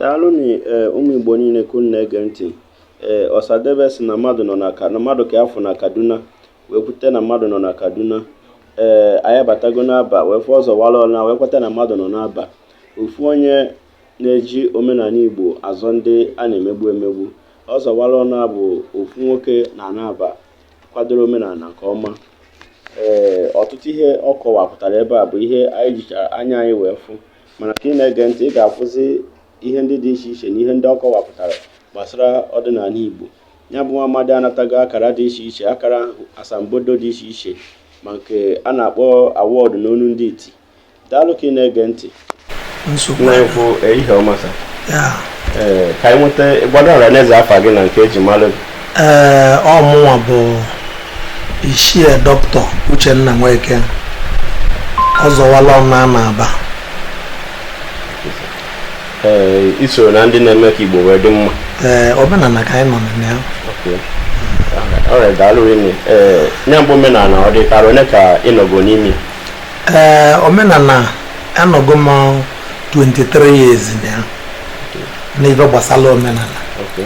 daalụ nụ eh, ụmụ igbo niile ka unu na-ege ntị ee eh, ọsadebe sị na mmadụ nọ na na mmadụ ka a fụ na kaduna wee kweta na mmadụ nọ na kaduna ee eh, anyị abatago n'aba wee fụ ọzọ wala ọna wee kweta na mmadụ nọ n'aba ofu onye na-eji omenala igbo azọ ndị a na-emegbu emegbu ọzọ wala ọna bụ ofu nwoke na n'aba kwadoro omenala nke ọma ee ọtụtụ ihe ọ kọwapụtara ebe a bụ ihe anyị jichara anya anyị wee fụ mana ka ị na-ege ntị ị ga-afụzi ihe ndị dị iche iche na ihe ndị ọ kọwapụtara gbasara ọdịnala Igbo ya bụ nwa amadi anatago akara dị iche iche akara asambodo dị iche iche ma nke a na-akpọ award n'onu ndị iti daalụ ka ị na-ege ntị na-ekwu eh, ihe ọma sa eh, ka anyị nweta gwado ọra na eze afa gị na nke eji mara ee ọ mụnwa bụ ichie doctor uchenna nweke ọzọ wala ọna na aba ee isoro na ndị na-eme ka igbo wee dị mma ee omenala ka anyị nọ na ya Okay. alright daalụ rinne ee ya bụ omenala ọ dị ka arọ ole ka ị nọgo n'ime ya? ee omenala anọgo m 23 years na ya n'ife gbasara omenala Okay.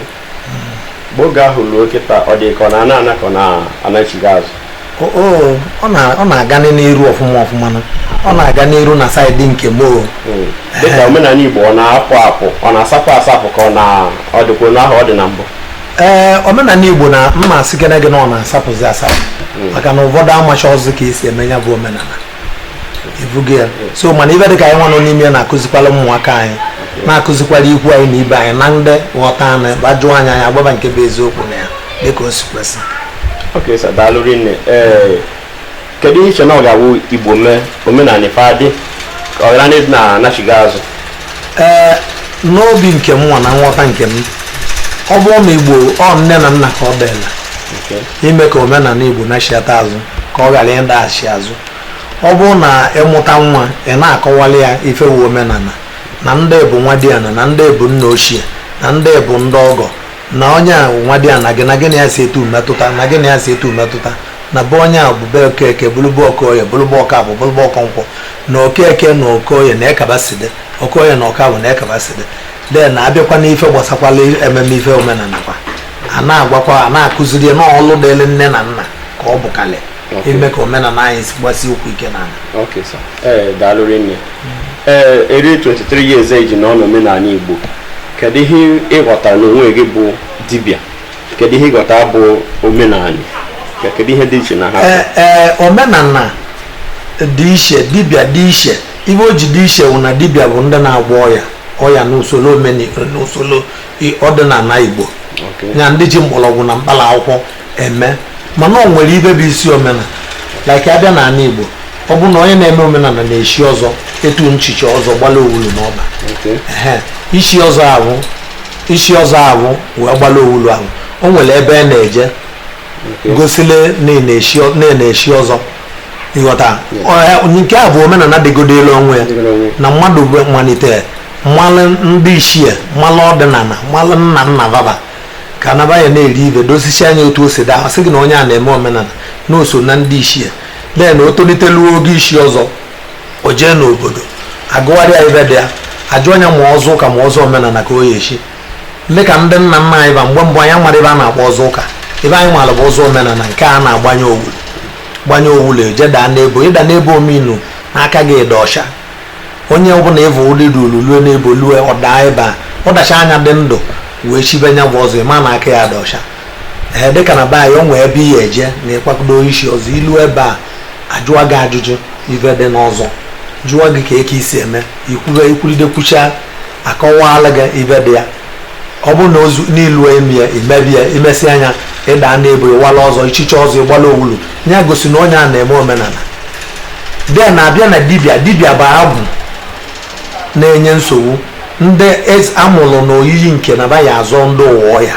mgbe oge ahụ ruo kịta ọ dị ka ọ na-ana ana ka ọ na-anachigha azụ O- o, ọ na- ọ na-aga n'iru ọfụma ọfụma nụ. ọ na-aga n'iru na side nke m o. Mm. dịka omenala igbo ọ na-apụ apụ ọ na-asapụ asapụ ka ọ na ọ dịkwa otu ahụ ọ dị na mbụ ee omenala igbo na m ma asịkene gị na ọ na-asapụzi asapụ maka na ụfọdụ amacharọzị ka esi eme ya bụ omenala ị fụgo ya so mana ibe dịka anyị nwa nọ n'ime ya na-akụzikwala ụmụaka anyị na-akụzikwala ikwu anyị na ibe anyị na ndị ghọta anyị bịa jụọ anyị anyị agwa fa nke bụ eziokwu na ya dịka o si kwesị ok sir daalụ rinne ee kedu ihe i che na ọ ga-awụ igbo mee omenala ife adị ka ọ ghara na ịdị na-anachigha azụ ee n'obi nke m nwa na nghọta nke m ọ bụrụ na igbo ọ nne na nna ka ọ dịlị Okay. ime ka omenala Igbo nachighata azụ ka ọ ghara ịdaghachi azụ ọ bụrụ na ị mụta nwa ị na-akọwali ya ife wụ omenala na ndị bụ nwa di ana na ndị bụ nna ochie na ndị bụ ndị ọgọ na onye a nwa di ana gị na gị na ya si etu metụta na gị na ya si etu metụta na be onye a bụ be okeke bụlụ be okoye bụlụ be ọkafọ bụlụ be okonkwọ na okeke na okoye na eka fa si dị okoye na ọkafọ na eka fa si dị then na-abịakwa n'ife gbasakwala ememe ife omenala kwa a na-agwakwa a na-akụziri ya n'ọlụ dịrị nne na nna ka ọ bụkarị ime ka omenala anyị si gbasie ụkwụ ike n'ala Okay, sir. Ee, daalụ rinne. Ee, eri 23 years i ji nọ n'omenala Igbo. Kedu ihe ị ghọtara n'onwe gị bụ dibịa? Kedu ihe ị ghọtara bụ omenala? Ke- Kedu ihe dị iche na ha? Ee, ee, omenala dị iche dibịa dị iche ibe o ji dị iche bụ na dibịa bụ ndị na-agwọ ọya ọya n'usoro omeni n'usoro ọdịnala Igbo nya ndị ji mgbọrọgwụ na mkpala akwụkwọ eme mana ọ nwere ibe bụ isi omenala like abịa na ala Igbo ọ bụ na onye na-eme omenala na-eshi ọzọ etu nchicha ọzọ gbala owulu n'ọkpa ishi ọzọ ahụ ishi ọzọ ahụ wee gbala owulu ahụ o nwere ebe a na-eje gosile na-eshi ọzọ ịghọta nke a bụ omenala dịgodolu onwe ya na mmadụ malite mmalụ ndị ichie mmalụ ọdịnala mmalụ nna nna baba ka anaba ya na-eri ibe dosisia nya otu o si daa sị gị na onye a na-eme omenala na o so na ndị ichie then o toliteluo oge ishi ọzọ o jee n'obodo agụgharịa ibe dị ya ajụa nya ma ọzọ ụka ma ọzọ omenala ka ọ ya-echi dịka ndị nna nna anyị ba mgbe mbụ anyị amara ibe a na-akpọ ọzọ ụka ibe anyị mara bụ ọzọ omenala nke a na-agbanye owulu gbanye owulu eje daa n'ebo ịda n'ebo omenu na aka gị dị ọcha onye ọbụla ịvụ ụdị dị olulue n'ebo lue ọdaa ebe a ọ dachaa nya dị ndụ wee chibe nya bụ ọzọ ịma na aka ya dị ọcha ee dịka na be anyị o nwee ebe ị ya-eje na ịkwakodo ishi ọzọ i lu ebe a ajụwa gị ajụjụ ife dị n'ọzọ jụwa gị ka eke i si eme ikwuwe ikwuride kwucha akọwala gị ife dị ya ọ bụrụ na ozu n'ilu emi ya i mebe ya i mesịa nya ịda n'ebo ịwala ọzọ ichiche ọzọ ịgbala owulu ya gosi na onye a na-eme omenala then abịa na dibịa dibịa bụ agwụ na-enye nsogbu ndị amụrụ na oyiyi nke na ba ya-azọ ndụ ụwa ya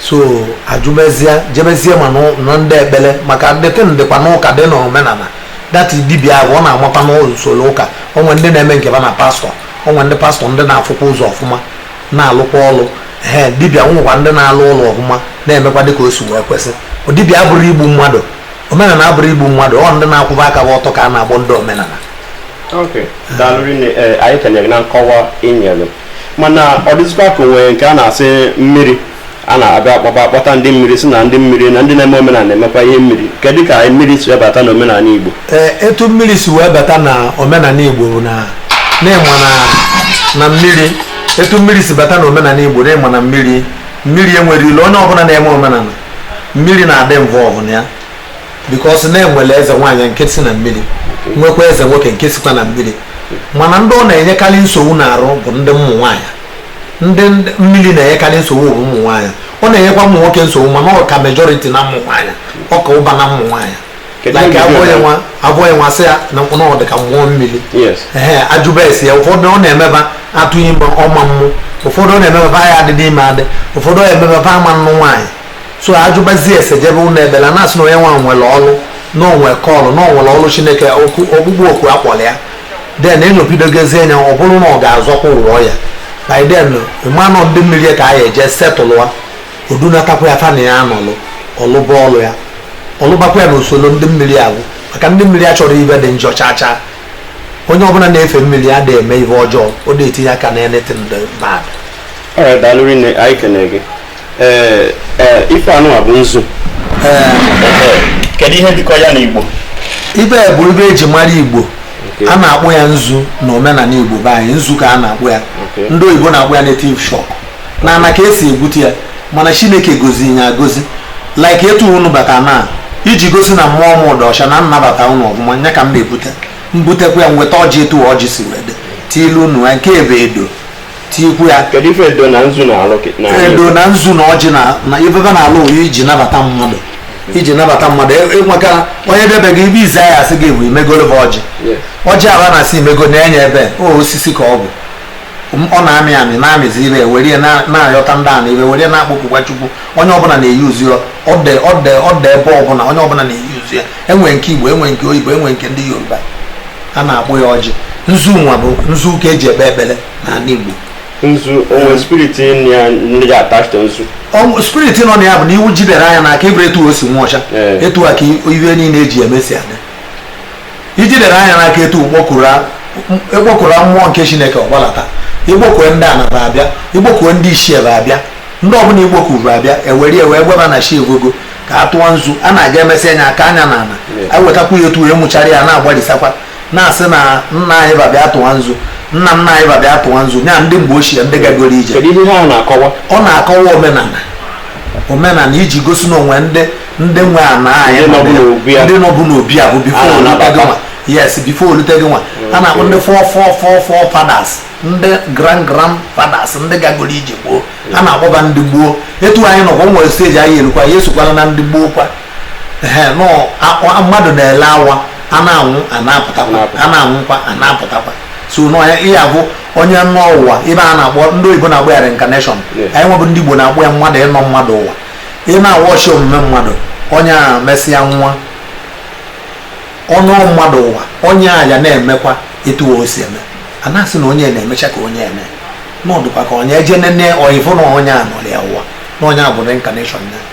so ajụbezie jebezie ma na ndị ekpere maka the thing dịkwa n'ụka dị na omenala that dibia ahụ ọ na-anọkwa n'usoro ụka o nwe ndị na-eme nke ba na pastor o nwe ndị pastor ndị na-afụkwa ụzọ ọfụma na-alụkwa ọlụ ee dibia nwekwa ndị na-alụ ọlụ ọfụma na-emekwa dịka o si wee kwesị dibia abụrọ igbu mmadụ omenala abụrọ igbu mmadụ ọ ndị na-akwụba aka ba ọtọ ka a na-akpọ ndị omenala Okay. Daalụ rinne eh, anyị kenere na nkọwa i nyere mana ọ dịzikwa ka o nwe nke a na-asị mmiri a na-abịa akpọba akpọta ndị mmiri sị na ndị mmiri na ndị na-eme omenala na-emekwa ihe mmiri kedu ka mmiri si wee bata na omenala Igbo ee etu mmiri si wee bata na omenala igbo bụ na n'ịma na na mmiri etu mmiri si bata na omenala igbo n'ịma na mmiri mmiri enwerọ ilo onye ọbụla na-eme omenala mmiri na-adị involve na ya because na e nwere eze nwaanyị nke si na mmiri nwekwa eze nwoke nke sikwa na mmiri mana ndị ọ na-enyekarị nsogbu n'arụ bụ ndị ụmụ nwaanyị ndị mmiri na-enyekarị nsogbu bụ ụmụ nwaanyị ọ na-enyekwa ụmụ nwoke nsogbu mana ọ ka majority na ụmụ nwaanyị ọ ka ụba na ụmụ nwaanyị like abụghị nwa sị ya na mkpụrụ ọ dị ka mmụọ mmiri ee ajụba ese ya ụfọdụ ọ na-emeba atụ ime ọ ma amụ ụfọdụ ọ na-emeba ya adịdị ime adị ụfọdụ ọ na-emeba a ma anụ nwaanyị so ajụbazie ese jebe ụlọ ekpere na-asị na onye nwa nwere ọrụ na o nwe call na o nwere ọrụ chineke ọkpụkpọ oku a kpọrọ ya then enyopidogozie anya ọ bụrụ na ọ ga-azọkwa ụwa ya by then mmanụ ndị mmiri ka a ya eje setụlụwa o dunatakwa ya fa na ya anọlụ ọ lụba ọlụ ya ọ lụbakwa ya na usoro ndị mmiri agwụ maka ndị mmiri achọrọ ibe dị njọ chaa chaa onye ọbụla na-efe mmiri a da eme ihe ọjọọ ọ na-etinye aka na anything bad. All right, daalụ rinne, anyị ekene gị. ee ee ife anụwa bụ nzu kedu ihe jikọ ya na igbo ibe bụ ibe e ji mara igbo a na-akpọ ya nzu na omenala igbo be anyị nzu ka a na-akpọ ya ndị oyibo na-akpọ ya native chalk na ana ka e si egwute ya mana chineke goziri ya agozi like etu unu bata na iji gosi na mmụọ m dị ọcha na m nabata unu ọfụma nya ka m na-ebute mbutekwa ya nweta ọjị etu ọjị si wede tiilu unu ya nke ebe edo tinyekwu ya kedu ife edo na nzu na-alụ kị- na edo na nzu na ọjị na na ibebe na ala oyi iji nabata mmadụ iji nabata mmadụ E- enwekara onye bịa be gị ibe ize ya asị gị bụ imegolo bụ ọjị Yes. ọjị ahụ a na-asị imego na-enye ebe o osisi ka ọ bụ M- ọ na-amị amị na-amịzi ire were ya na- na-ayọta ndị ana ire were ya na-akpọkukwa chukwu onye ọbụla na-eyuuzu ya ọ dị ọ dị ọ dị ebe ọbụla onye ọbụla na-eyuuzu ya e nwe nke igbo e nwe nke oyibo e nwe nke ndị yoruba a na-akpọ ya ọjị nzu nwa bụ nzu ka e ji ekpe ekpere n'ala Igbo nzu o nwe spirit dị ya attached nzu spirit nọ na ya bụ na i jidere ya n'aka ị fụrụ etu o si nwa ọcha etu a ka ihe niile e ji eme si adị i jidere ya n'aka etu ị kpọkuru mmụọ nke chineke ọ gbadata ị kpọkue ndị ana ba abịa ị kpọkue ndị ichie ba abịa ndị ọbụla ị kpọkuru abịa e were ya wee gwa ba na chi efogo ka a tụọ nzu a na-aga emesịa ya akaa ya n'ala ewetakwu ya etu ya mụchara ya na-agbalịsakwa na-asị na nna anyị ba bịa tụwa nzu nna nna anyị ba bịa tụwa nzu ya ndị mgbe ochie ndị gagoro ije ọ na-akọwa omenala omenala iji gosi na o nwe ndị ndị nwe ana anyị ndị nọbụ n'obi a bụ before o lute gị nwa yes before o lute gị nwa a na-akpọ ndị fore fore fore forefathers ndị grand grand fathers ndị gagoro ije gboo a na-akpọ ba ndị gboo etu anyị nọkwa o nwere stage anyị erukwa ya esokwala na ndị gboo kwa mmadụ na-ele awa a na-anwụ a na-apụtakwa a na-anwụkwa a na-apụtakwa so nya bụ onye nọ ụwa ive a na-akpọ ndị oyibo na-akpọ ya reincarnation anyị nwa bụ ndị igbo na-akpọ ya mmadụ ịnọ mmadụ ụwa ị na-awọchi omume mmadụ onye a mesịa nwụa ọ nọ mmadụ ụwa onye a ya na-emekwa etu o si eme a na-asị na onye na-emecha ka onye eme na ọ dụkwa ka onye eje nene oyivụ na onye a nọrọ ya ụwa na onye a bụ reincarnation ya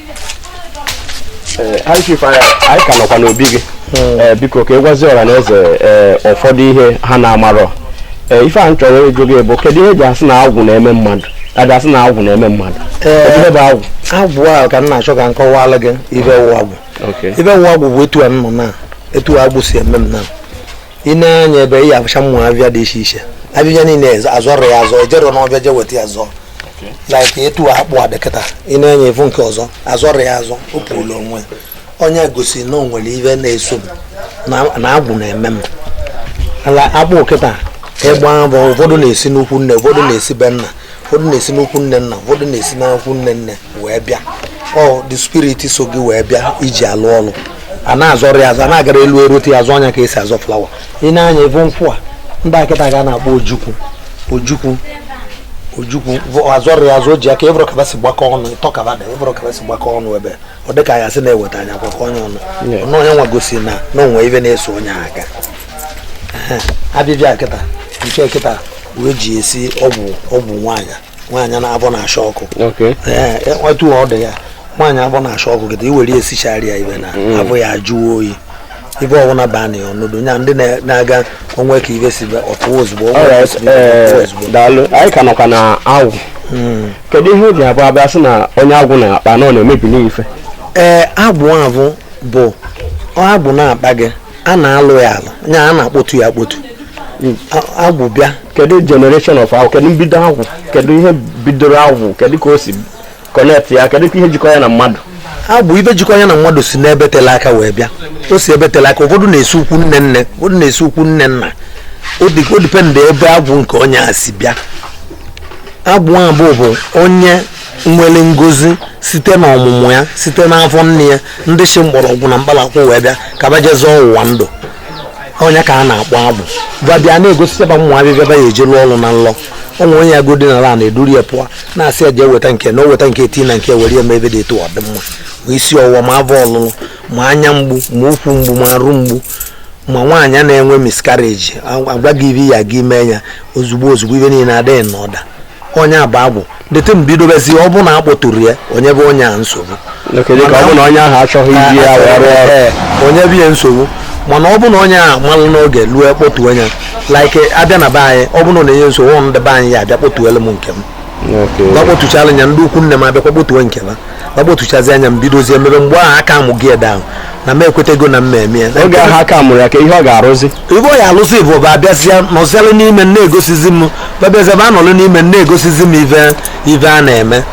anyị ka nọkwa n'obi gị hmm. eh, biko ka ị gwazie ọra na eze eh, ụfọdụ ihe ha na amarọ eh, ife a m chọrọ ịjụ gị bụ kedu ihe eji asị na agwụ na-eme mmadụ a ja-asị na agwụ na-eme mmadụ ive bụ agwụ agwụ a ka m na-achọ ka m kọwalụ gị ive wụ agwụ ive wụ agwụ bụ etu a nọ na etu agwụ si eme m na i nee anya ebe ị ya-avụcha ụmụ avịa dị iche iche avịvịa niile azọrọ ya azọ ejero n'ọvịa je weta ya zọọ like etu akpụ a dị kịta i nee anya ị vụ nke ọzọ azọrọ ya azọ o pulu onwe onye gosi na o nwere ive na-eso m na agwụ na-eme m ala akpụ kịta agwụ avụ ụfọdụ na-esi n'ikwu nne ụfọdụ na-esi be nna ụfọdụ na-esi n'ikwu nne nna ụfọdụ na-esi n'ikwu nne nne wee bịa ọ the spirit so gị wee bịa iji alụ ọlụ a na-azọrọ ya azọ a na-agara elu erote ya azọ nya ka esi azọ flower i nee anya ị vụ nkwụ a dị kịta ka a na-akpọ ojukwu ojukwu ojukwu azọrọ ya azọ o ji aka ị vụrụ ka va si gbakọ ọnụ ịtọ ka va dị ị vụrụ ka va si gbakọ ọnụ ebe ọ dị ka ya sị na-eweta anya akwakọ onye ọnụ ọnụ onye nwa gosi na na o nwe ive na-eso onye ahụ aka avịvịa kịta nke kịta wee ji esi ọgwụ ọgwụ nwaanyị nwaanyị na avọ na-acha ọkụ etu ọ dị ya nwaanyị avọ na-acha ọkụ kịta i were esichara ya ive na mm. avọ ya ajụọ oyi ive ọbụla baa na ya ọ nọdụ nya ndị na-aga o nwe ka ive si ọpụwa ozugbo eh, daalụ anyị ka nọkwa na agwụ hmm. kedu ihe o ji abụ a bịa sị na onye agwụ na-akpa na ọ na-emebi n'ife ee eh, agwụ avụ bụ agwụ na-akpa gị a na-alụ ya alụ nya a na-akpọtu ya akpọtu agwụ bịa kedu generation of agwụ kedu mbido agwụ kedu ihe bidoro agwụ kedu ka o si connect ya kedu ka ihe jikọ ya na mmadụ avụ ive jikọ ya na mmadụ si n'ebe tele aka wee bịa o si ebe tele aka ụfọdụ na-esi ikwu nne nne ụfọdụ na-esi ikwu nne nna o depend ebe agwụ nke onye a si bịa agwụ avụ bụ onye nwere ngozi site na ọmụmụ ya site n'afọ nne ya ndị si mgbọrọgwụ na mkpalakwụ wee bịa ka va je zọọ ụwa ndụ ọ nya ka a na-akpọ agwụ va bịa na-egosi va ụmụ avịvịa va ya-eji lụọ ọrụ na nlọ o nwe onye ya godi na na eduru ya pụọ na-asị ya jee weta nke na o weta nke tii na nke were ya mee ive dị etu ọ dị mma ma isi ọwụwa ma avọ ọlụlụ ma anya mgbu ma ụkwụ mgbu ma arụ mgbu ma nwaanyị na-enwe miscarriage agwa gị ive ya gị mee ya ozugbo ozugbo ive niile adị in order ọ nya bụ agwụ dịtụ mgbe i dobezi ọ bụ na a kpọturọ ya o nyebe onye a nsogbu Oke, dịka ọ bụ na onye ahụ achọghị iji ya wee rụọ ọrụ Ee, o nyebe ya nsogbu mana ọ bụ na onye a malụ n'oge lue kpọtuo nya like a bịa na be anyị ọ bụ na ọ na-enye nsogbu ọ ndị be anyị ya-abịa kpọtuelu m nke m Okay. ba kpọtuchala nya ndị ukwu nne m abịakwa kpọtuo nke m akpọtuchazia nya m bidozie mebe mgbe ahụ aka mụ gị ede ahụ na m ekwetego na m me-eme ya oge ahụ aka mụrụ ya ka ihe ọ ga-arụzi ive ọ ya-alụzi bụ ba abịazịa nọzialụ n'ime na-egosizi m ba abịazịa ba anọlụ n'ime na-egosizi m ive a na-eme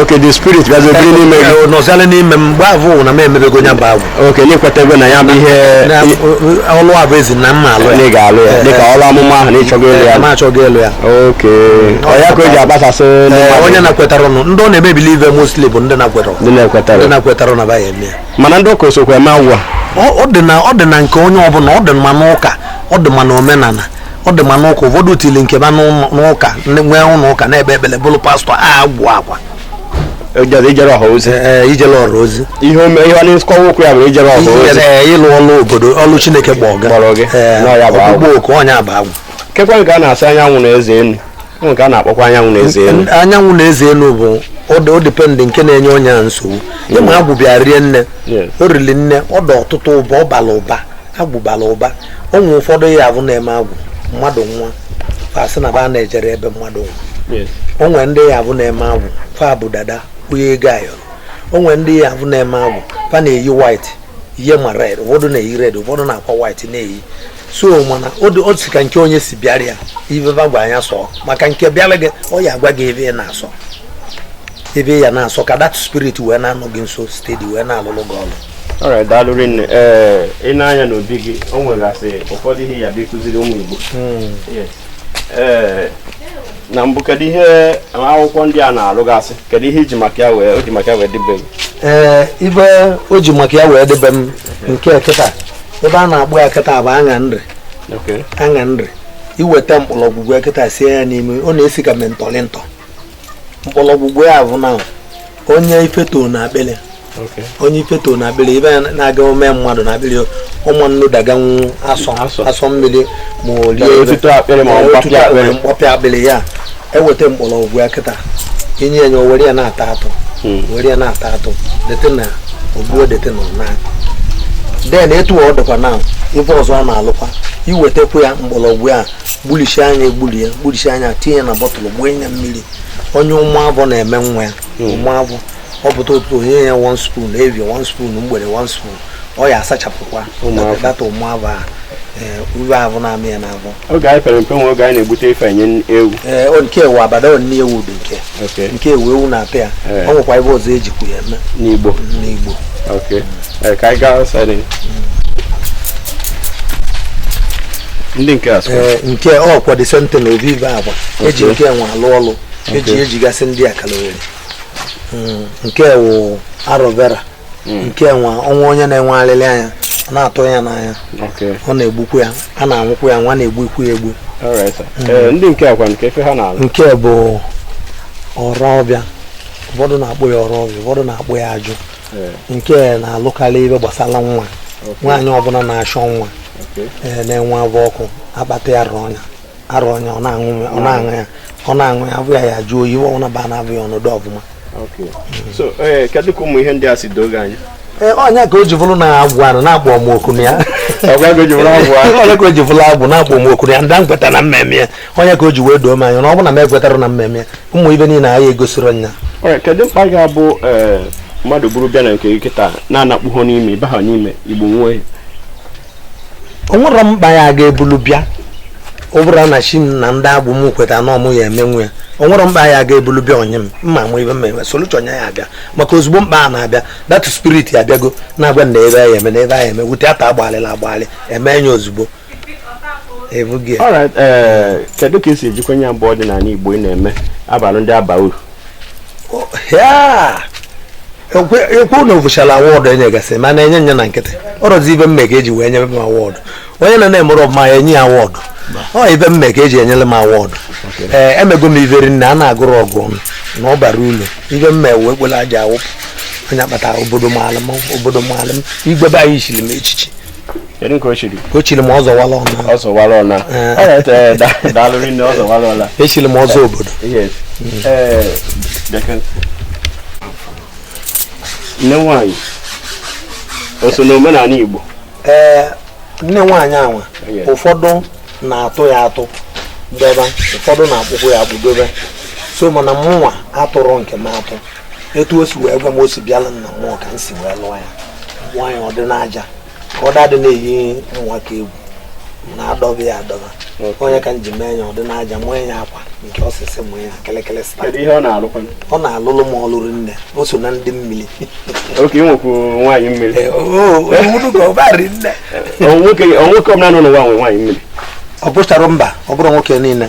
okay the spirit gazi ebiri n'ime gị nọzialụ n'ime m mgbe ahụ na m emebego nya bụ agwụ okay na i kwetego na ya bụ ihe Na- i- o- o- ọlụ a bụ ezi na m ma-alụ na ị ya ga-alụ ya Eh, dịka eh. ọrụ amụma ahụ na ị chọgo ịlụ ya Eh, ma achọghị ịlụ ya okay ọ ya ka o ji agbasasị ndị Eh, mmadụ onye na-ekwetarọ nụ ndị ọ na-emebili ive mostly bụ ndị na-ekwetarọ ndị na-ekwetarọ ndị na-ekwetarọ na ba ya-eme ya mana ndị ụka o sokwa eme agwụ ọ ọ dị na ọ dị na nke onye ọbụla ọ dị ma n'ụka ọ dị ma n'omenala ọ dị ma n'ụka ụfọdụ tili nke ba n'ụlọ- n'ụka ndị nwee ụlọ ụka na-ekpe ekpere bụrụ pastọ a agwụ agwa ejere ijere ọha ozi ee ijele ọra ozi ihe ome ihe ọ na-esi akọwa okwu ya bụ ijere ọha ozi ijele ịlụ ọlụ obodo ọlụ chineke kpọ ọga Kpọrọ gị. Ee, Nọ ya bụ agwụ. ọkpụkpọ oku ọ nya bụ agwụ kekwa nke a na-asị anyanwụ na eze enu ọ nke a na-akpọkwa anyanwụ na eze enu anyanwụ na eze enu bụ ọ dụ o depend nke na-enye onye a nsogbu ị ma agwụ bịa rie nne Yes. o riri nne ọ dị ọtụtụ ụba ọ bara ụba agwụ bara ụba o nwere ụfọdụ ya abụ na-eme agwụ mmadụ nwa fa sị na ba na-ejere ebe mmadụ nwa o nwere ndị ya abụ na-eme agwụ fa bụ dada kwụnye ego ayọrọ o nwere ndị ya abụ na-eme agwụ fa na-eyi white yie ma red ụfọdụ na-eyi red ụfọdụ na-akwa white na-eyi so mana o dị- o si ka nke onye si bịara ya ife fa gwa nya sọọ maka nke bịara gị ọ ya agwa gị ive ị na-asọ ive ị ya na-asọ ka that spirit wee na-anọ gị nso steady wee na-alụlụ gị ọlụ alright daalụ rinne ee i nee anya n'obi gị o nwegasị ụfọdụ ihe ya bụ ịkụziri ụmụ Igbo hmm. ee na mbụ kedu ihe akwụkwọ ndị a na-alụgasị kedu ihe i ji maka ya wee o ji maka ya wee debe m ee ive o ji maka ya wee debe m nke kịta ive a na-akpọ ya kịta bụ aṅa nri aṅa nri i weta mkpọrọgwụ ya kịta sie ya n'imi ọ na-esi ka mentholatum mkpọrọgwụ ya bụ na onye ife to na akpịrị onye ife to na akpịrị ive ya na-aga ome mmadụ na akpịrị ọ ma nodaganwu asọ asọ mmiri ma o rie otuto akpịrị ma mgbapịa akpịrị ya eweta mgbọrọgwụ ya kịta i nye nya o were ya na-ata atụ hmm. were ya na-ata atụ dete na ogbuo dete na ọna den etu ọ dịkwa na ife ọzọ ọ na-alụkwa i wetekwa ya mgbọrọgwụ ya gbulichie nya egbulie gbulichie nya tinye na bottle gbuo ya mmiri onye ụmụ avọ na-eme nwa ya hmm. ụmụ avọ ọ pụta ụtụtụ o nye ya one spoon evi one spoon mgbede one spoon ọ ya asachapụkwa that ụmụ avọ a ive ahụ na-amị ya n'avọ oge anyị pere mpe nwe oge anyị na-egbute ife enye ewu ee nke ewu abada ọ nni ewu dị nke nke ewu ewu na-ata ya o nwekwa ive ọzọ ejikwu ya eme n'igbo n'igbo ka anyị gaa ndị nke a sịkwa Ee, nke ọ kwa the same thing na ọ bụ ive agwa eji nke anwa alụ ọlụ eji Okay. ejigasị ndị akalowere nke wụ aloe vera nke anwa o nwee onye na-enwe alịlị anya ọ na-atụ ya n'anya Okay. ọ na-egbukwu ya a na-aṅụkwu ya nwa na-egbukwu ya egbu Alright, sir. Ee, ndị nke a kwanụ kee ife ha na-alụ nke bụ ọrụ ọbịa ụfọdụ na-akpọ ya ọrụ ọbịa ụfọdụ na-akpọ ya ajụ nke na-alụkarị ive gbasara nwa nwaanyị ọbụla na-achọ nwa na-enwe avụ ọkụ a kpata ya rụọ nya a rụọ nya ọ na-aṅụ ya ọ na-aṅụ ya avụ ya ya-ajụ oyi ive ọbụla ba n'avụ ya ọ nọdụ ọvụma kedu ka ụmụ ihe ndị a si doo gị anya Eh, ọ nya ka o ji bụrụ na agwụ anụ na-akpọ m oku na ya ọ nya ka o ji bụrụ agwụ na-akpọ m oku na ya ndị m kweta na m ma-eme ya ọ nya ka o ji wee doo m anya na ọ bụ na m ekwetara na m ma-eme ụmụ ive niile anyị egosiro nya Alright, kedu mkpa ga-abụ ee, mmadụ buru bịa na nke gị kịta na-anakpuho n'ime ịbaha n'ime igbo nwee o nwere mkpa ya ga-ebulu bịa ọ bụrụ na chi m na ndị agwụ m kweta na ọ mụ ya-emenwu ya o nwere mkpa ya ga-ebulu bịa onye m mma amụ ive m ma-eme solution nya ya-abịa maka ozugbo mkpa a na-abịa that spirit abịago na-agwa na ive a ya-eme na ive a ya-eme wute ata agbalịla agbalị eme ya ozugbo ebughị ọra ee eh, kedu ka esi ejikwa ya mgbe ọdịnala igbo ị na-eme abalị ndị aba uru ekwu na ofụchala award enye gasị mana enye nya na nkịtị ọrọzi ive m me ka eji wee nyere m award onye na na-emerọ ọvụma a ya-enye ya award ọ ive m me ka eji enyere m award ee eh, emego m ive rinne a na-agụrọ agụ ọnụ na ọ bara ulu ive m me wee kpere aja awụpụ ọ nya kpata obodo maalụ m obodo maalụ m igwe be anyị chiri m echichi kedu nke o chiri o chiri m ọzọwala ọna ọzọwala ọna Eh. Alright, eh, da- daalụ rinne ọ zọwala ọna echiri m ọzọ obodo yes Eh, bịaka. nne nwanyị o so n'omenala igbo ee nne nwaanyị anwa Yes. ụfọdụ na-atụ ya atụ debe ụfọdụ na-akpụkwa ya akpụ dobe so mana mụnwa atụrụ nke m atụ etu o si wee gwa m o si bịala na mmụọ ka m si wee lụọ ya mee ya ọ dị n'aja ka ọ dadị na-eyi ụmụaka egwu na-adọba ya adọba ọ nya ka m ji mee ya ọ dị n'aja mee ya akwa nke osisi mee ya kelekele sịta ihe ọ na-alụkwa ọ na-alụlụ m ọlụ rinne o so na ndị mmiri oke nwekwu nwaanyị mmiri eh, nwoke ọbụla nọ n'ụwa nwe nwaanyị mmiri ọ bụcharọ mba ọ bụrọ nwoke niile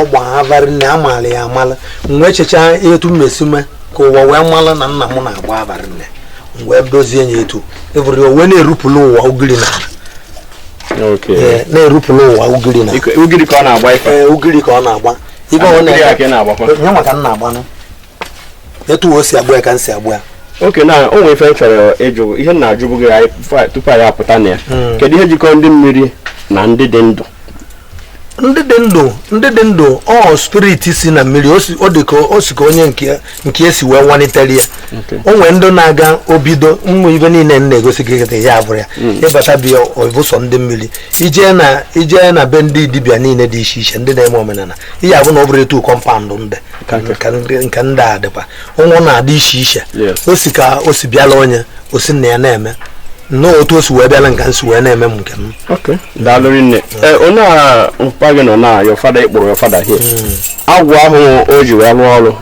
ọ gba ava rinne amaala ya amala m wee chechaa etu m mesi mee ka ụwa wee mala na nna m na-agba ava rinne m wee dozie ya etu ị vụrụ ya o wee na-erupụla ụwa ugiri na na-erupụla ụwa ugiri na ugiri ka ọ na-agba ife ugiri ka ọ na-agba ibe ọ na-agba ya maka nna agbanụ etu o si agba ya ka m si agba ya okay nna o nwere ife m chọrọ ịjụ ihe m na-ajụbụ gị anyị fa- tupu anyị apụta na ya Mm. kedu ihe jikọrọ ndị mmiri na ndị dị ndụ ndị dị ndụ ndị dị ndụ ọ spirit si na mmiri o si- ọ dị ka o si ka onye nke nke esi wee nwalitere ya o nwee ndị na-aga ebido ụmụ ive niile m na-egosi gị kịta ya abụrụ ya ị bata bịa ọ bụ sọ ndị mmiri i jee na i jee na be ndị dibịa niile dị iche iche ndị na-eme omenala ị ya-avụ na ọ bụrọ etu kọmpaụndụ ndị nke ndị a dịkwa o wee na-adị iche iche o si ka o si bịala onye o si na ya na-eme nnọọ otu o si wee bịala m ka m si wee na-eme m nke m daalụ nne eh, onye a mpa gị nọ na your father ịkpụrụ your father here hmm. agwụ ahụ o ji wee rụọ ọrụ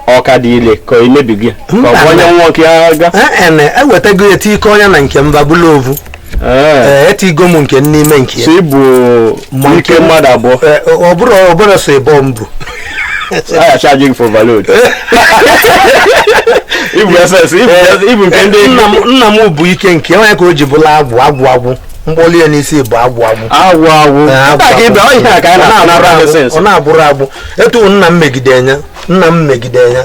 ọ ka dị ile ka o mebigo ya ka ọ bụ onye nwa nke ya ga-ewetago e, e ya eti ike onye na nke m abụla ovu Ee, etigo m nke m n'ime nke ya. so i bu Ma ike nke- mmadụ abụọ Ee, ọ bụrụ ọ bụrụ so ịbọ m bụ a ya charge gị for overload i bu ss i bu- i bu nke ndị nna m nna m bụ ike nke ya, ọ nya ka o ji bụla agwụ agwụ agwụ m kpọli ya n'isi bụ agwụ agwụ agwụ agwụ Ee, agwụ Nke a ka ịbịa, ọ ihe a ka anyị Ọ na-ata na na-abụrụ agwụ, Renaissance. ọ na-abụrụ agwụ etu nna m megide ya nna m megide ya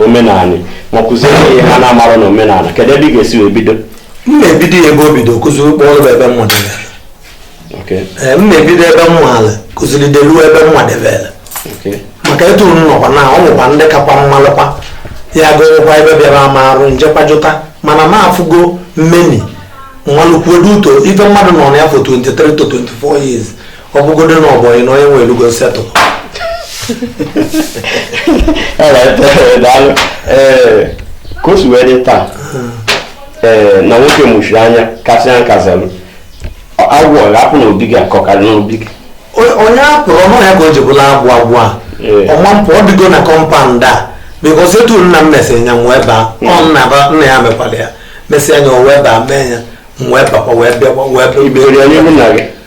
omenala ma kụziere ihe ha na-amarọ na omenala kedu ebe ị ga-esi wee bido m na-ebido ya ebe o bido kụzi ụkpọ ọrụ ebe m nwadebere m na-ebido ebe m nwaala kụziri deluo ebe m nwadebere maka etu m nọkwa na o nwekwa ndị kakwa m malụkwa ya gụrụkwa ebe bịara ama arụ m jekwa jụta mana m afụgo m meni m malụkwuo due to ife mmadụ nọ na ya for 23 to 24 years ọ bụgodo na ọ bọyị na onye nwe elugo settle ka o si wee dị taa ee na nwoke mụchiri anya kasị ya nkazalụ agwụ ọ ga-apụ na obi gị akọ karị n'obi gị onye a pụrụ ọnụ ya ka o ji bụla agwụ agwụ a ọma mpụ ọ dịgo na compound a because etu nna m mesịrị nya nwa ebe a ọ nna ya mekwara ya mesịa nya o wee baa mee ya nwa ebe akwa wee bịa wee bịa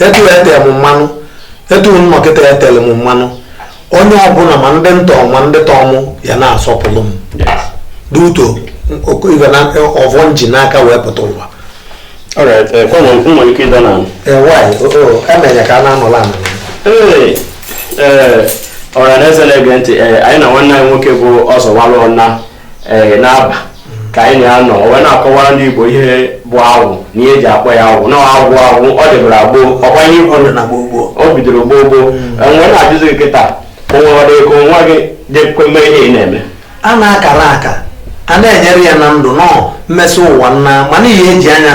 etu e tee m mmanụ etu m nọ kịta e tele m mmanụ onye ọbụla ma ndị m tọ ma ndị tọ mụ ya na-asọpụrụ m due to ọvọ m ji n'aka wee pụta ụwa Alright, eh, kwa mwa mwa yuki dana. Eh, why? Oh, oh, eme ya ka na anọ lana. Eh, eh, ọra na eze na-ege ntị, eh, anyị na nwanne anyị nwoke bụ Ọzọ Walụ Ọna ee n'Aba ka anyị na-anọ o wee na-akọwara ndị Igbo ihe bụ agwụ na ihe eji akpọ ya agwụ na agwụ agwụ ọ dịbara gboo ọkwa ihe ikwu na gboo gboo o bidoro gboo gboo e wee na-ajụzi gị kịta o nwere ego nwa gị ga-ekwe mee ihe ị na-eme a na-akara aka a na-enyere ya na ndụ nọ mmesị ụwa nna mana ihe eji anya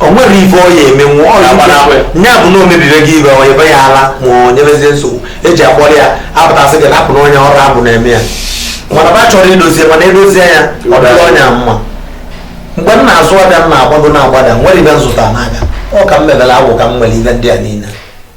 o nwere ife ọ ya emenwu ọ ya gbara akwe nya bụ na o mebibe gị ive o nyebe ya ala ma o nyebezie nsogbu eji akpọrọ ya a pụta sị gị rapụ na onye ọ bụ agwụ na-eme ya mana va chọrọ idozie mana edozie ya ọ dịrị onye a mma mgbe m na-azụ avịa m na-agbago na-agbada nwere ive m zụtara n'avịa ọ ka m mebere agwụ ka m nwere ive ndị a niile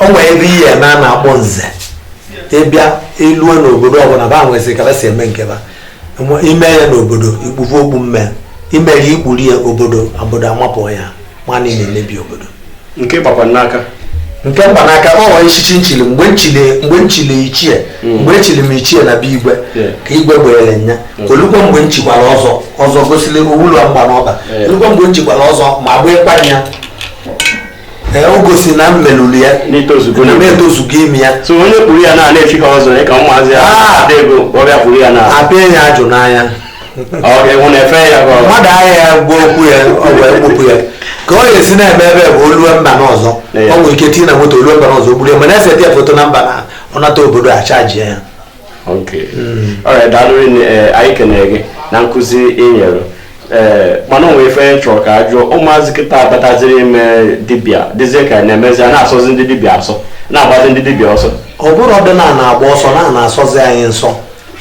o nwere ebe ihe eme a na-akpọ nze ị bịa lue n'obodo ọbụla va nwesịrị ka va si eme nke va Nwe- ime ya n'obodo ikpuvu okpu mme imere ikpuru ya obodo obodo amapụ ya nwanne na-emebi obodo nke gbakwa n'aka nke mgbanaka o nwere echichi m chili mgbe m chili mgbe m chili ichie mgbe echili m ichie na be igwe Yeah. ka igwe gbeere nya o lukwa mgbe m chikwara ọzọ ọzọ gosiri owulu mgba n'ọba Yeah. o lukwa mgbe m chikwara ọzọ ma gbaa ịkwa ya ee o gosi na m melulu ya n'itozugo na m etozugo ime ya so onye kpuru ya na na-echirọ ọzọ ya ka ụmụazị ya Ah! ada ego ọ bịa kpuru ya na abịa ya ajụ n'anya ọ ga-enwu na efe ya ka ọ mmadụ ahịa ya gwa okwu ya o wee kpupu ya ka ọ ga-esi na-eme ebe bụ o lue mba n'ọzọ Ee. o nwere ike tinye na moto o lue mba n'ọzọ o kpuru ya mana e see ya foto na mba na ọ nata obodo achajie ya okay daalụ eh, anyị kenere gị na nkụzi ị nyere ee eh, mana o nwe ife anyị chọrọ ka a jụọ ụmụazị kịta abataziri ime dibịa dịzie ka na-emezi a na-asọzi ndị dibịa asọ na-agbazi ndị dibịa ọsọ ọ bụrụ ọdịnana agba ọsọ na na-asọzi anyị nsọ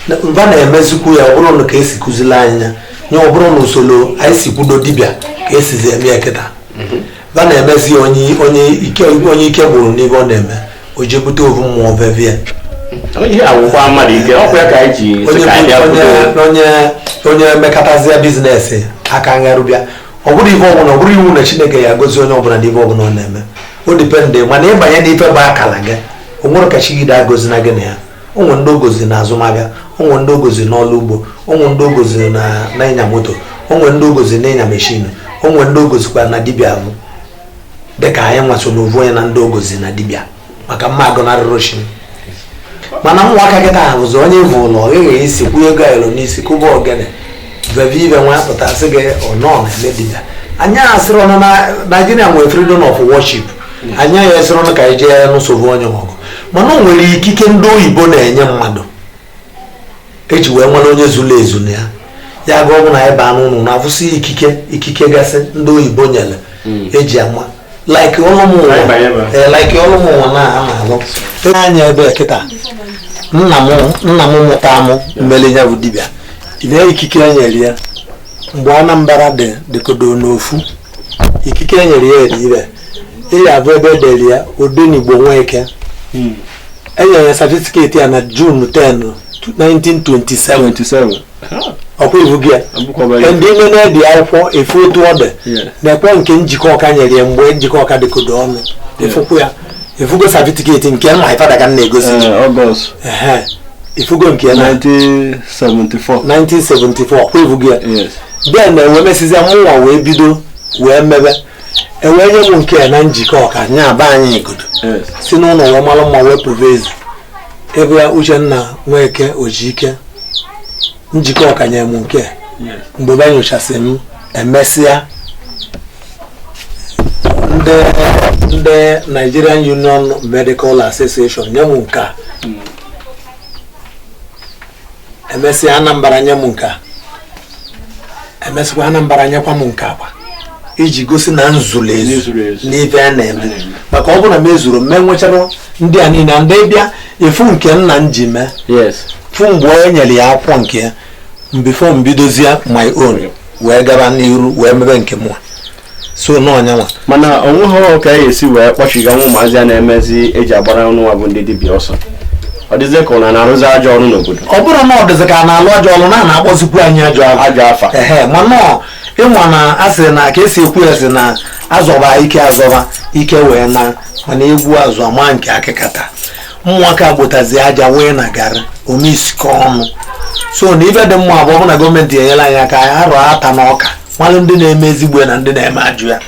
na va na-emezikwu ya ọ bụrọ nụ ka esi kụzili anyị ya nye ọ bụrọ na usoro anyị si kwudo dibịa ka esizi eme ya kịta mhm. va na-emezi onye onye ike onye ike gwụrụ n'ive ọ na-eme o jee bute ovu mmụọ veve ya ihe agwụkwa mmadụ ike ọkwa ya ka anyị ji sị onye ka anyị bịa onye kwuo onye onye mekatazie business aka ngharụbịa ọ bụrọ ife ọbụla ọ bụrọ iwu na Chineke ya-agọzi onye ọbụla n'ife ọbụla ọ na-eme o depend mana ị banye n'ife bụ akala gị o nwere ka chi gị da agọzi na gị na ya o nwere ndị ọ gọzi na azụmahịa o nwere ndị ọ gọzi na ọrụ ugbo o nwere ndị ọ gọzi na na ịnya moto o nwere ndị ọ gọzi na ịnya meshin o nwere ndị ọ gọzikwa na dibịa bụ dịka anyị nwa so na ovu onye na ndị ọ gọzi na dibịa maka m ma agọnarụ arụshị mana ụmụaka kịta ọ bụzi onye vụlụ ọ ghaghị isi kwụnye ego ayọrọ n'isi kụba ogene veve ive nwa pụta sị gị na ọ na-eme dibịa anyị asịrị nụ na Nigeria nwere freedom of worship anyị ya asịrọ nụ ka anyị jee nụsobe onye ọgụ mana o nwere ikike ndị oyibo na-enye mmadụ eji wee mara onye zuru ezu na ya ya ga ọ bụ na anyị baa n'ụnọ ụnụ afụsị ikike ikike gasị ndị oyibo nyere eji ama like ọlụ mụnwa eh, like ọlụ mụnwa na-alụ anya ebe kịta nna m nna m mụtara mụ mele ya bụ dibịa tinye ikike e nyere ya mgbe Anambra dị dịkọdo n'ofu ikike e nyere ya eri ire ị ya-afụ ebe e dere ya Odenigbo Nweke hmm. e nyere ya certificate ya na June 10 1927 ọkwa ị fụgo ya ndị nne na-ebi akwụkwọ ị fụ otu ọ dị nekwa nke Njikoka nyere ya mgbe Njikoka dịkọdo ọnụ ị fụkwu ya ị fụgo certificate nke my father ka m na-egosi ị fụgo nke ya na 1974 ọkwa ị fụgo ya then wee mesịzịa mụnwa wee bido wee mebe e wee nye m nke a na Njikoka nya bụ anyị godo si n'ụlọ wee mara mma wee pụba ezi ị fụ ya Uchenna Nweke Ojike Njikoka nye m nke mgbe be nyochasị m emesịa ndị ndị Nigerian Union Medical Association nye m nke a hmm. emesịa Anambra nye m nke a emesịkwa Anambra nyekwa m nke a kwa iji gosi na m zuru ezu n'ife a na-eme maka ọ bụrụ na m ezuro m enwecharọ ndị a niile and ị bịa afụ nke nna m ji mee fụ mgbe onye nyere ya akwụkwọ nke ya before m bidozie my own wee gaba n'iru wee mebe nke mụ so n'ọ nyanwa mana o nweghị ka anyị si wee kpọchigaa ụmụazị a na-emezi e ji agbara anyịnwa bụ ndị dibịa ọsọ ọ dịzị ka a na-arụzi ajọ ọrụ n'obodo ọ bụrụ na ọ dịzị ka a na-alụ ajọ ọrụ na na-akpọzikwu anyị ajọ ajọ afa ehe mana ị ma na a sị na ka e si ekwu ya sị na a zọba ike a zọba ike wee na mana egwu azụ ama nke akịkata ụmụaka gbotazi aja wee na gara omeisike ọnụ so na ife dị mma bụ ọ bụ na government enyelụ anyị aka anyị arọta na ọ ka malụ ndị na-eme ezigbo ya na ndị na-eme ajọ ya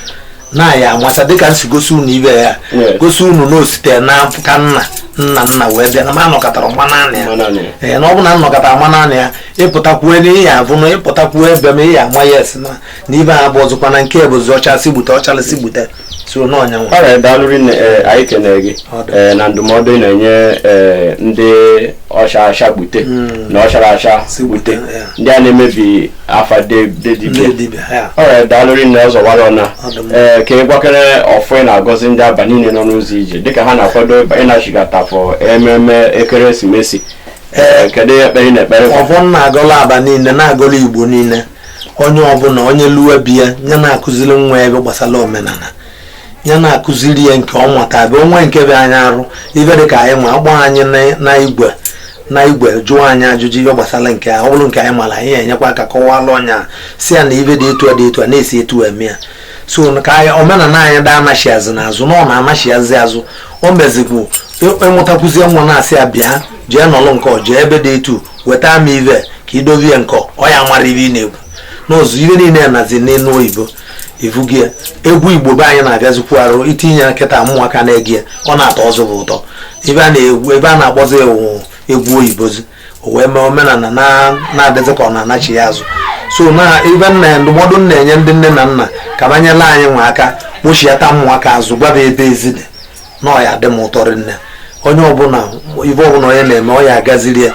na a ya-amata dịka m si gosi unu ife a gosi unu na o site n'aka nna nna nna wee bịa na m anọkatarọ mma naanị ya ee na ọ bụ na m nọkata mma naanị ya ị pụtakwuo n'ihe afụ na ị pụtakwuo ebe m ị ya-ama ya asị na na ife a bụ ọzọkwa na nke bụzi ọ chaa si gbute ọ charọ si gbute so n'ọ nyanwa alright daalụ rinne ee, anyị kenere gị Ọ dị. ee, na ndụmọdụ ị na-enye ee, ndị ọ chaa acha gbute na ọ charọ acha Si gbute, gbute ya. ndị a na-emebi afa de- de dibịa ndị dibịa ya alright daalụ rinne Ọzọwara Ọna Ọ dị mma. ee ka ị gwakene ọfọ ị na-agọzi ndị Aba niile nọ n'ụzọ ije dịka ha na-akwado ịba- ịnachigata for ememe ekeresimesi ee kedu ihe ekpere ị na-ekpere ọfọ m na-agọlụ Aba niile na-agọlụ Igbo niile onye ọbụla onye lue be ya ya na-akụziri nwa ibe gbasara omenala ya na-akụziri ya nke ọ mata bụ onwe nke bụ anyị arụ ibe dị ka anyị ma a kpọọ anyị na igwe na igwe jụọ anyị ajụjụ ihe gbasara nke ọ bụrụ nke anyị mara anyị enyekwa aka kọwalụ onye a sị ya na ibe dị etu a dị etu a na-esi etu eme ya so ka anyị omenala anyị daa anachiazi n'azụ na ọ na-anachiazi azụ o mezibụ ị mụtakwuzie nwa na-asị ya bịa jee nọlụ nke ọ jee ebe dị etu weta m ive ka idovie nkọ ọ ya mara ibe ị na-ekwu n'ụzọ ibe niile nazi n'olu oyibo ivugi ya egwu igbo be anyị na-afịazikwu arụ itinye kịta ụmụaka na-ege ya ọ na-atọzi va ụtọ ebe a na-egwu ebe a na-akpọzi ewu egwu oyibozi o wee mee omenala na- na-adịzi ka ọ na-anachi ya azụ so na ebe nna ya ndụmọdụ m na-enye ndị nne na nna ka va nyelụ anyịnwa aka kpọchiata ụmụaka azụ gwa va ebe ezi dị na ọ ya adị m ụtọ rinne onye ọbụla ibe ọbụla onye na-eme ọ ya agaziri ya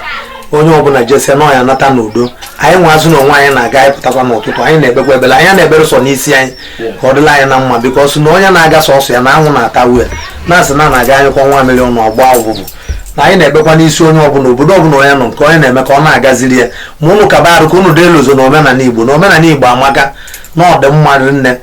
onye ọbụla jesia na ọ ya nata n'udo anyịnwazi na onwe anyị na-aga anyị pụtakwa n'ụtụtụ anyị na-ekpekwa ekpele anyị na-ekpere sọ n'isi anyị ka ọ dịlị anyị na mma because na onye na-aga sọsọ ya na anwụ na-atagbue na-asị na na-aga anyụkọọ nwamịrị ọnụ ọ gbaa ụfụfụ na anyị na-ekpekwa n'isi onye ọbụla obodo ọbụla onye nọ nke onye na-eme ka ọ na-agaziri ya ma ụnụ kaba arụ ka ụnụ da elozọ na omenala igbo na omenala igbo amaka na ọ dị mma rinne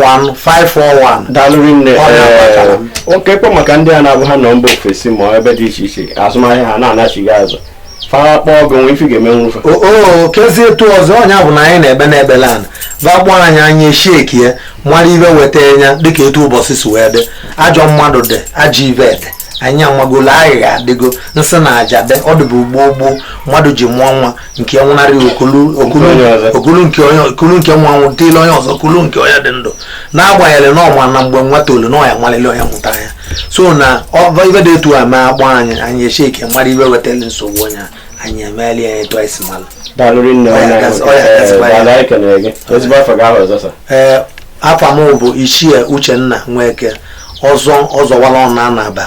08033911541 daalụ rinne Ọ na-abatara m. oke kpọ maka ndị a na-abụ ha nọ mba ofesi ma ebe dị iche iche azụmahịa ha na-anachighị azụ fara kpọọ gị nwe ife ga-eme nwufe oo kezie etu ọzọ ọ nya bụ na anyị na-ekpe n'ekpele na va kpọọ anyị anyị echeckie ya mara ibe wetara ya dịka etu ụbọchị si wee dị ajọ mmadụ dị ajọ ibe dị anyị amagolo aghụghọ adịgo nsị na aja dị ọ dịbụ gboo gboo mmadụ ji mụọ nwa nke nwụnarị o kulu nke onye o kulu nke nwa nwụ tielụ onye ọzọ o kulu nke onye dị ndụ n'agbanyeghị na ọ ma na mgbe nwa tolu na ọ ya amarịrị onye mụtara ya so na ibe dị etu a ma a kpọọ anyị anyị echeckie mara ibe wetara nsogbu onye anyị emeela ya etu anyị si mara ee afa m bụ ichie uchenna nweke ọzọ ọzọwalụ ọna na abba